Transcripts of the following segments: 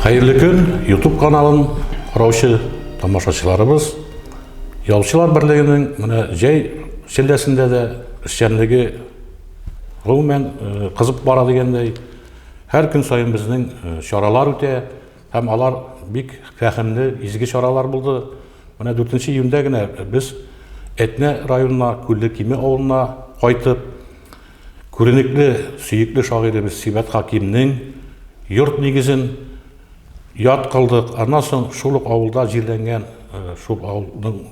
Хәерле көн, YouTube каналын караучы тамашачыларыбыз. Ялчылар берлегенең менә җәй шелләсендә дә эшчәнлеге гомумән э, кызып бара дигәндәй, һәр көн саен безнең э, чаралар үтә. Һәм алар бик фәһемле, изге чаралар булды. Менә 4 нче июньдә генә без Әтнә районына, Күлле Киме авылына кайтып, күренекле, сөекле шагыйребез Сибәт Хакимнең йорт нигезен яткылдык. Аннан соң шул ук авылда җирләнгән, шул авылның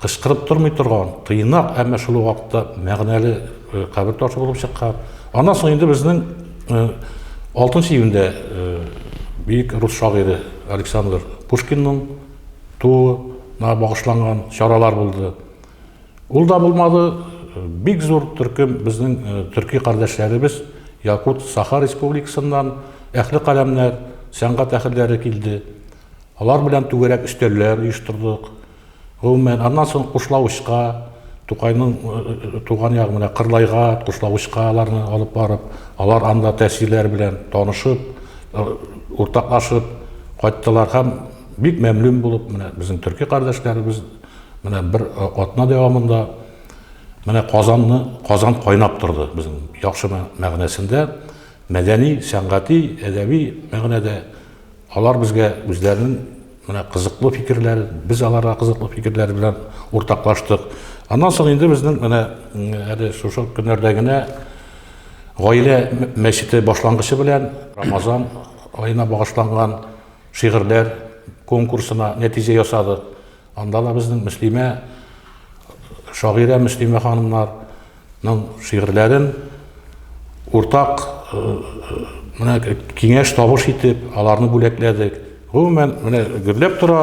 кычкырып тормый торган, тыйнак, әмма шул ук вакытта мәгънәле кабер ташы булып чыккан. Аннан соң инде безнең 6 июньдә бөек рус шагыйре Александр Пушкинның тууына багышланган чаралар булды. Ул да булмады, бик зур төркем безнең төрки кардәшләребез Якут Саха республикасыннан әхле каләмнәр, сәнгать әхелләре килде. Алар белән түгәрәк өстәлләр оештырдык. Гомумән, аннан соң Кушлавычка, Тукайның э, э, э, туган ягы менә Кырлайга, Кушлавычка аларны алып барып, алар анда тәэсирләр белән танышып, уртаклашып кайттылар һәм бик мәмлүн булып, менә безнең төрки кардәшләребез менә бер атна дәвамында менә Казанны, Казан кайнап торды безнең яхшы мәгънәсендә, мәдәни, сәнгати, әдәби мәгънәдә Алар безгә үзләренең менә кызыклы фикерләр, без аларга кызыклы фикерләр белән уртаклаштык. Аннан соң инде безнең менә әле шушы көннәрдә генә гаилә мәчете башлангычы белән Рамазан аена багышланган шигырьләр конкурсына нәтиҗә ясады. Анда да безнең Мөслимә шагыйрә Мөслимә ханымнарның шигырьләрен уртак э, э, менә киңәш табыш итеп, аларны бүләкләдек. Гомумән, менә гөрләп тора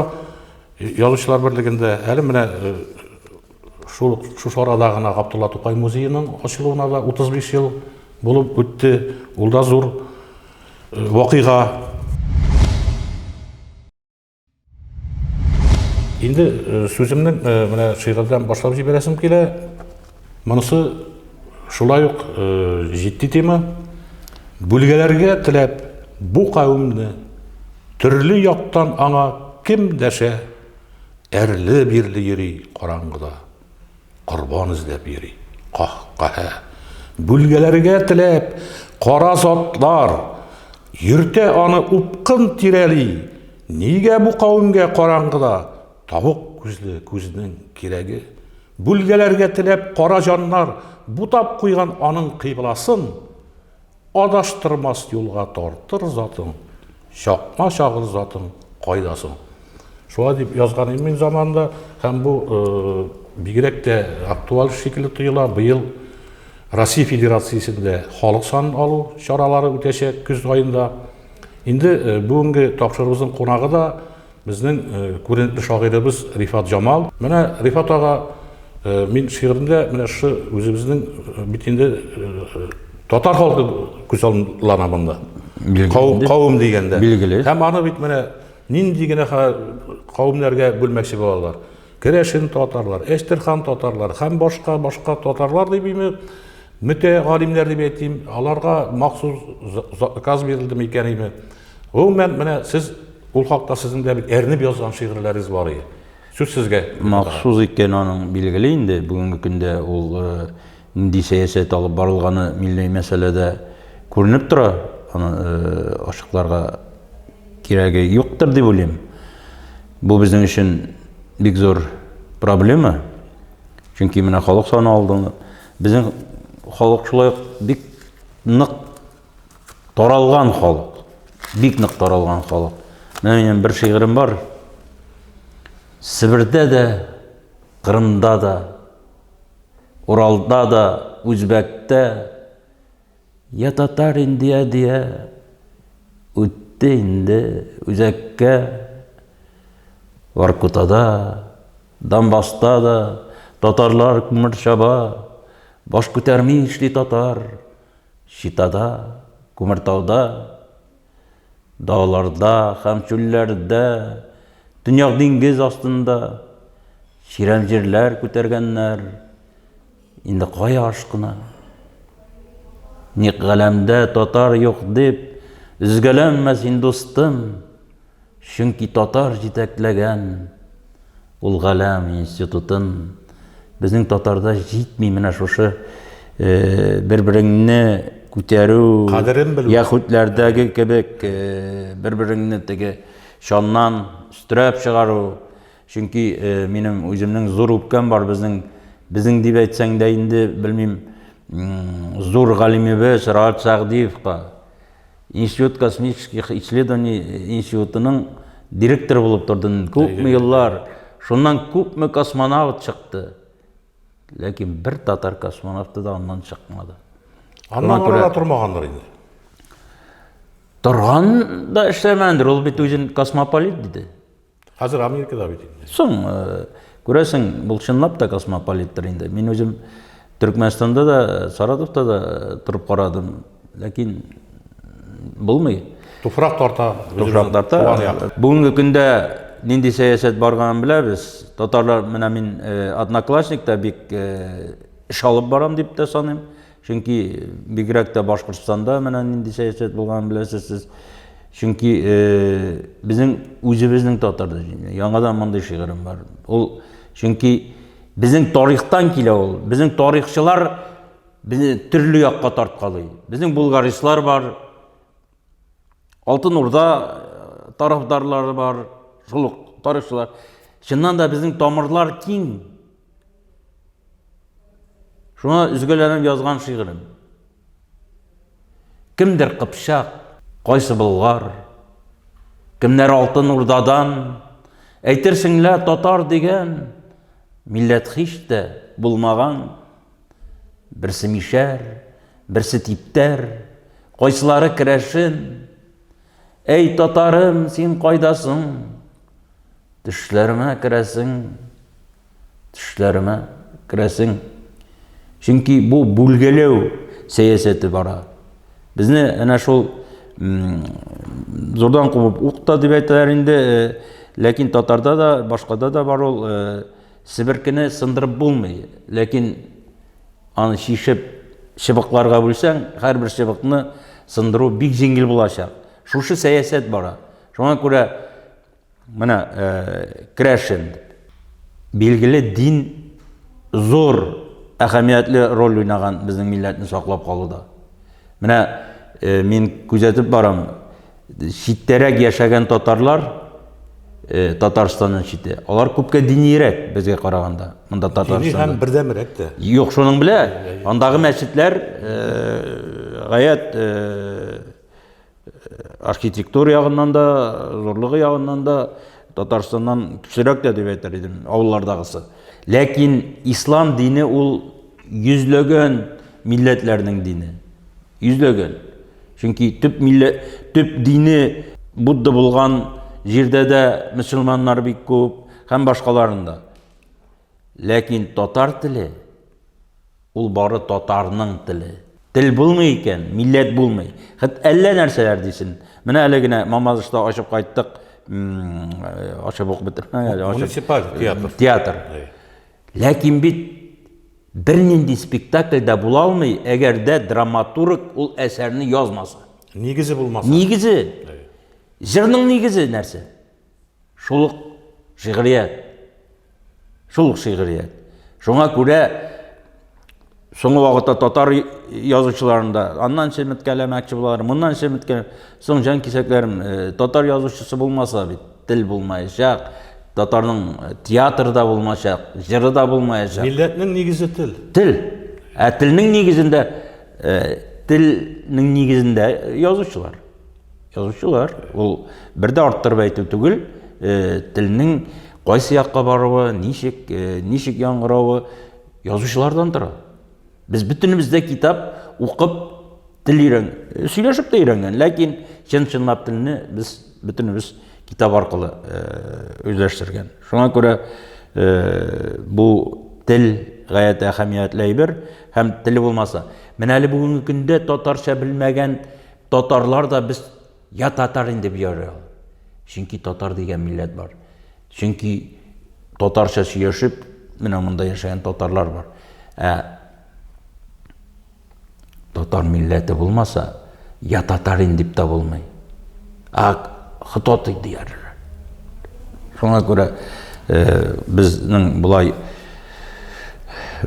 язучылар берлегендә. Әле менә э, шул шушы арада гына Габдулла Тукай музееның ачылуына да 35 ел булып үтте. Ул да зур вакыйга. Инде э, сүземне э, менә шигырьдән башлап җибәрәсем килә. Монысы шулай ук э, җитди тема. Бүлгәләргә теләп бу кавемне төрле яктан аңа кем дәшә, әрле-бирле йөри караңгыда. Корбан эзләп йөри. Каһ-каһә. Бүлгәләргә теләп, кара затлар. Йөртә аны упкын тирәли. Нигә бу кавемгә караңгыда тавык күзле күзнең кирәге? Бүлгәләргә теләп кара җаннар бутап куйган аның кыйбласын. Адаштырмас юлга тартыр затың, Чакма чагыр затың, кайда соң? Шулай дип язган идем мин заманында, һәм бу бигрәк тә актуаль шикелле тоела. Быел Россия Федерациясендә халык санын алу чаралары үтәчәк көз айында. Инде бүгенге тапшырыбызның кунагы да Безнең күренекле шагыйребез Рифат Җамал. Менә Рифат ага, мин шигыремдә менә шушы үзебезнең бит инде татар халкы күз аллана монда. Кавым дигәндә. Билгеле. Һәм аны бит менә нинди генә кавымнарга бүлмәкче булалар. Керәшен татарлар, Әчтерхан татарлар һәм башка башка татарлар дип име мөтә галимнәр дип әйтим, аларга махсус заказ бирелде микән име? Гомумән, менә сез ул хакта сезнең дә бит әрнеп язган шигырьләрегез бар иде. Сүз сезгә. Махсус икән аның билгеле инде, бүгенге көндә ул э, нинди сәясәт алып барылганы милли мәсьәләдә күренеп тора. Аны э, ачыкларга кирәге юктыр дип уйлыйм. Бу безнең өчен бик зур проблема. Чөнки менә халык саны алды. Безнең халык шулай бик нык Таралган халык. Бик нык таралган халык. Менә минем бер шигырем бар. Себердә дә, Кырымда да, Уралда да, Үзбәктә, я татар инде, я дия, үтте инде үзәккә, Воркутада, Донбасста да, татарлар күмер чаба, баш күтәрми эшли татар, Читада, Күмертауда, дауларда һәм чүлләрдә, төньяк диңгез астында чирәм җирләр күтәргәннәр. Инде кая ашкына? Ник галәмдә татар юк дип, өзгәләнмә син, дустым. Чөнки татар җитәкләгән ул галәм институтын. Безнең татарда җитми менә шушы бер-береңне күтәрү, кадерен белү. Яхүдләрдәге кебек бер-береңне теге чаннан өстерәп чыгару. Чөнки минем үземнең зур үпкәм бар безнең, безнең дип әйтсәң дә инде, белмим, зур галимебез Раат Сәгъдиевка. Институт космических исследований институтының директоры булып торды күпме еллар. Шуннан күпме космонавт чыкты. Ләкин бер татар космонавты да аннан чыкмады. Аннан күрә тормагандыр инде. Торган да эшләмәндер, ул бит үзен космополит диде. Хәзер Америкада бит инде. Соң, э, күрәсең, бул чынлап та космополиттер инде. Мин үзем Төркмәнстанда да, Саратовта да э, торып карадым, ләкин булмый. Туфрак тарта, туфрак тарта. Бүгенге көндә нинди сәясәт барганын беләбез. Татарлар, менә мин э, одноклассникта бик эш алып барам дип тә саныйм. Чөнки бигрәк тә Башкортстанда менә нинди сәясәт булганын беләсез сез. Чөнки безнең үзебезнең татар дәҗине. Яңадан мондый шигырем бар. Ул чөнки безнең тарихтан килә ул. Безнең тарихчылар безне төрле якка тарткалый. Безнең булгаристлар бар, Алтын Урда э, тарафдарлары бар, шул ук тарихчылар. Чыннан да безнең тамырлар киң. Шуңа өзгәләнеп язган шигырем. Кемдер Кыпчак, кайсы Болгар, кемнәр Алтын Урдадан, әйтерсең лә татар дигән милләт һич тә булмаган. Берсе мишәр, берсе типтәр, кайсылары керәшен. Әй, татарым, син кайдасың? Төшләремә керәсең. Төшләремә керәсең. Чөнки бу бүлгәләү сәясәте бара. Безне әнә шул зурдан кубып укта дип әйтәләр инде, э, ләкин татарда да, башкада да бар ул э, Себеркене сындырып булмый, ләкин аны чишеп, чыбыкларга бүлсәң, һәрбер чыбыкны сындыру бик җиңел булачак. Шушы сәясәт бара. Шуңа күрә менә Крәшен билгеле дин зур әһәмиятле роль уйнаган безнең милләтне саклап калуда. Менә мин күзәтеп барам, читтәрәк яшәгән татарлар, э, Татарстаннан чите, алар күпкә диниерәк безгә караганда. Монда Татарстанда. Һәм бердәмрәк тә. Юк, шуның белә, андагы мәчетләр э, гаять э, архитектура ягыннан да, зурлыгы ягыннан да Татарстаннан кечерәк тә дип әйтер идем, авыллардагысы. Ләкин ислам дине ул йөзләгән милләтләрнең дине. Йөзләгән. Чөнки төп миллә, төп дине Будда булган җирдә дә мөселманнар бик күп һәм башкаларында. Ләкин татар теле ул бары татарның теле. Тел булмый икән, милләт булмый. Хет әллә нәрсәләр дисен. Менә әле генә Мамадышта ачып кайттык, м, ачып ук бетермә әле, ачып. Муниципаль театр. Театр. Ләкин бит бернинди спектакль дә була алмый, әгәр дә драматург ул әсәрне язмаса. Нигезе булмаса. Нигезе. Җырның нигезе нәрсә? Шул ук шигърият. Шул ук шигърият. Шуңа күрә Соңгы вакытта татар язучыларын да аннан чеметкәләмәкче булалар, моннан чеметкәләр. Соң җан кисәкләрем, э, татар язучысы булмаса бит, тел булмаячак, татарның э, театры да булмаячак, җыры да булмаячак. Милләтнең нигезе тел. Тел. Ә телнең нигезендә э, телнең нигезендә язучылар. Язучылар. Ул бер дә арттырып әйтү түгел, телнең кайсы якка баруы, ничек, ничек яңгыравы, Язучылардан тора. Без бөтенебез дә китап укып тел өйрән, сөйләшеп тә өйрәнгән, ләкин чын-чынлап телне без бөтенебез китап аркылы үзләштергән. Шуңа күрә бу тел гаять әһәмиятле әйбер һәм теле булмаса. Менә әле бүгенге көндә татарча белмәгән татарлар да без Я татар инде бу ярый ул. Чөнки татар дигән милләт бар. Чөнки татарча сөйләшеп, менә монда яшәгән татарлар бар. Ә татар милләте булмаса, я татар инде дип тә булмый. А хтоты диярләр. Шуңа күрә э, безнең болай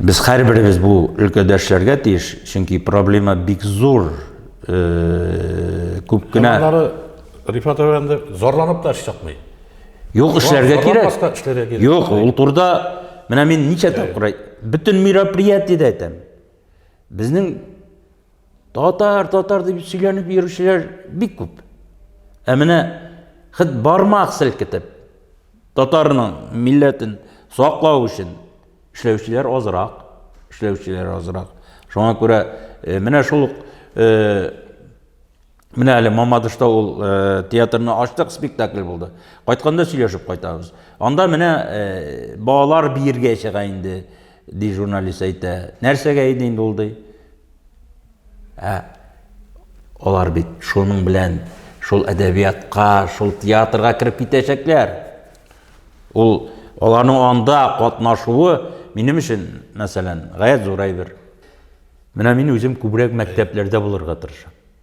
без һәрберебез бу өлкәдәшләргә тиеш, чөнки проблема бик зур. күп кенә Аннары Рифат әфәнде зарланып та эш чыкмый. Юк, эшләргә кирәк. Юк, ул турда менә мин ничә тапкыр бөтен мероприятиедә әйтәм. Безнең татар, татар дип сөйләнеп йөрүчеләр бик күп. Ә менә хит бармак селкетеп татарның милләтен саклау өчен Эшләүчеләр азрак, эшләүчеләр азрак. Шуңа күрә э, менә шул ук э, менә әле Мамадышта ул э, театрны ачтык, спектакль булды. Кайтканда сөйләшеп кайтабыз. Анда менә балалар биергә чыга инде, ди журналист әйтә. Нәрсәгә иде инде ул ди? Ә алар бит шуның белән шул әдәбиятка, шул театрга кереп китәчәкләр. Ул аларның анда катнашуы минем өчен, мәсәлән, гаять зур әйбер. Менә мин үзем күбрәк мәктәпләрдә булырга тырышам.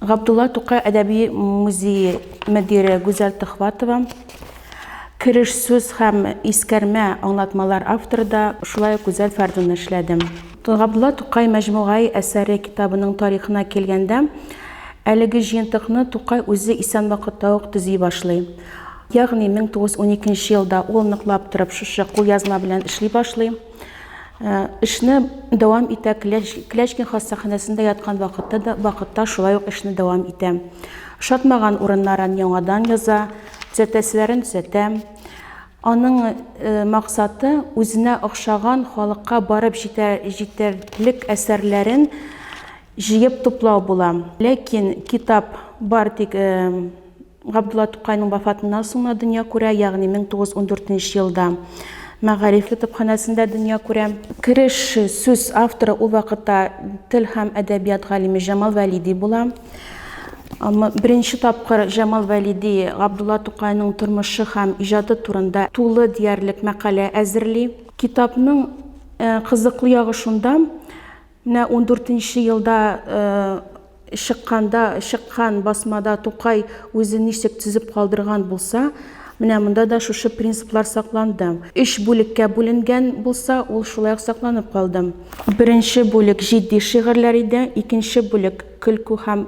Габдулла Тукай әдәби музее мөдире Гүзәл Төхватова, кереш сүз һәм искәрмә аңлатмалар авторы да шулай ук Гүзәл Фәрдунна эшләде. Габдулла Тукай мәҗмугаи әсәре китабының тарихына килгәндә, әлеге җыентыкны Тукай үзе исән вакытта ук төзи башлый. Ягъни 1912 елда ул ныклап торып шушы кулъязма белән эшли башлый. Эшне дәвам итә Клячкин хастаханәсендә яткан вакытта да вакытта шулай ук эшне дәвам итә. Шатмаган урыннарын яңадан яза, төзәтәселәрен төзәтә. Аның э, максаты үзенә охшаган халыкка барып җитәр, җитәрлек әсәрләрен җыеп туплау була. Ләкин китап бар тик э, Габдулла Тукайның вафатыннан соң гына дөнья күрә, ягъни 1914 нче елда Мәгариф китапханәсендә дөнья күрә. Кереш сүз авторы ул вакытта тел һәм әдәбият галиме Җамал Вәлиди була. Беренче тапкыр Җамал Вәлиди Габдулла Тукайның тормышы һәм иҗаты турында тулы диярлек мәкалә әзерли. Китапның кызыклы ягы шунда, Менә ундүртенче елда чыкканда, чыккан басмада Тукай үзен ничек төзеп калдырган булса, менә монда да шушы принциплар сакланды. Өч бүлеккә бүленгән булса, ул шулай ук сакланып калды. Беренче бүлек җитди шигырьләр иде, икенче бүлек көлке һәм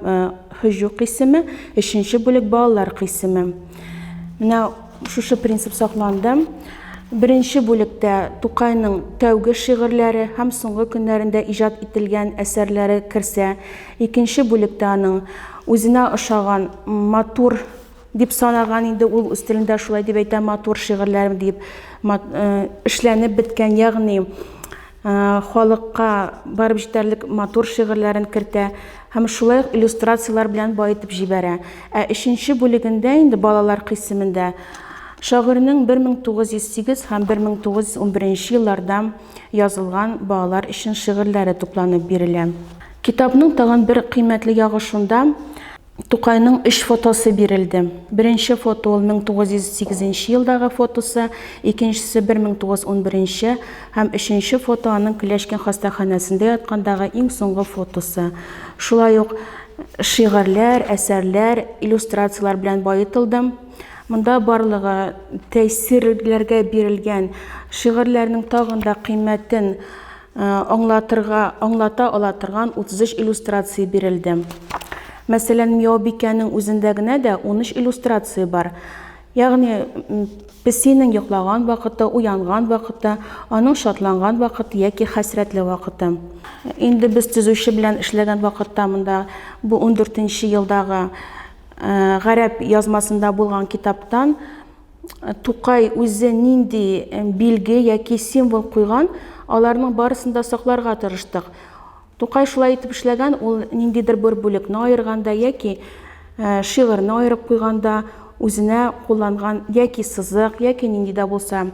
һөҗү кыйсеме, өченче бүлек балалар кыйсеме. Менә Шушы принцип сакланды. Беренче бүлектә Тукайның тәүге шигырьләре һәм соңгы көннәрендә иҗат ителгән әсәрләре керсә, икенче бүлектә аның үзенә ошаган, матур дип санаган, инде ул үз телендә шулай дип әйтә, матур шигырьләре дип, эшләнеп беткән, ягъни халыкка барып җитәрлек матур шигырьләрен кертә һәм шулай ук иллюстрацияләр белән баетып җибәрә. Ә өченче бүлегендә инде балалар кыйсемендә шагыйрьнең 1908 һәм 1911 елларда язылган балалар өчен шигырьләре тупланып бирелә. Китапның тагын бер кыйммәтле ягы шунда, Тукайның өч фотосы бирелде. Беренче фото ул 1908 елдагы фотосы, икенчесе 1911 һәм өченче фото аның Клячкин хастаханәсендә яткандагы иң соңгы фотосы. Шулай ук шигырьләр, әсәрләр, иллюстрацияләр белән баетылдым. Монда барлыгы тәэсирләргә бирелгән шигырьләрнең тагын да кыйммәтен аңлатырга, аңлата ала торган 33 иллюстрация бирелде. Мәсәлән, Мияубикәнең үзендә генә дә 13 иллюстрация бар. Ягъни, песинең йоклаган вакыты, уянган вакыты, аның шатланган вакыты яки хәсрәтле вакыты. Инде без төзүче белән эшләгән вакытта монда бу 14 нче елдагы гарәп язмасында булган китаптан Тукай үзе нинди билге яки символ куйган, аларның барысын да сакларга тырыштык. Тукай шулай итеп эшләгән, ул ниндидер бер бүлекне аерганда яки шигырьне аерып куйганда үзенә кулланган яки сызык, яки нинди дә булса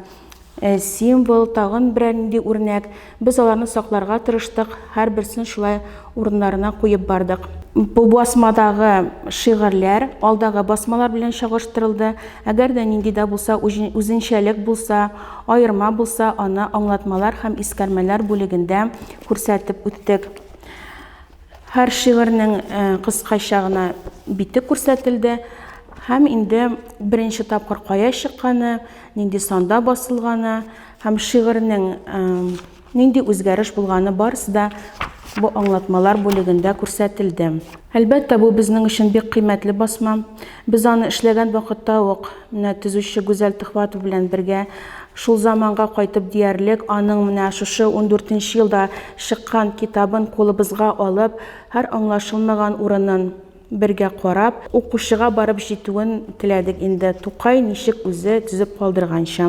Ә символ, тагын берәр нинди үрнәк, без аларны сакларга тырыштык, һәрберсен шулай урыннарына куеп бардык. Бу басмадагы шигырьләр алдагы басмалар белән чагыштырылды, әгәр дә нинди дә булса үзенчәлек булса, аерма булса, аны аңлатмалар һәм искәрмәләр бүлегендә күрсәтеп үттек. Һәр шигырьнең кыскача гына бите күрсәтелде һәм инде беренче тапкыр кая чыкканы, нинди санда басылганы һәм шигырьнең нинди үзгәреш булганы барысы да бу аңлатмалар бүлегендә күрсәтелде. Әлбәттә, бу безнең өчен бик кыйммәтле басма. Без аны эшләгән вакытта ук, менә төзүче Гүзәл Төхватов белән бергә шул заманга кайтып диярлек, аның менә шушы 14 елда чыккан китабын кулыбызга алып, һәр аңлашылмаган урынын, Бергә карап, укучыга барып җитүен теләдек инде, Тукай ничек үзе төзеп калдырганча.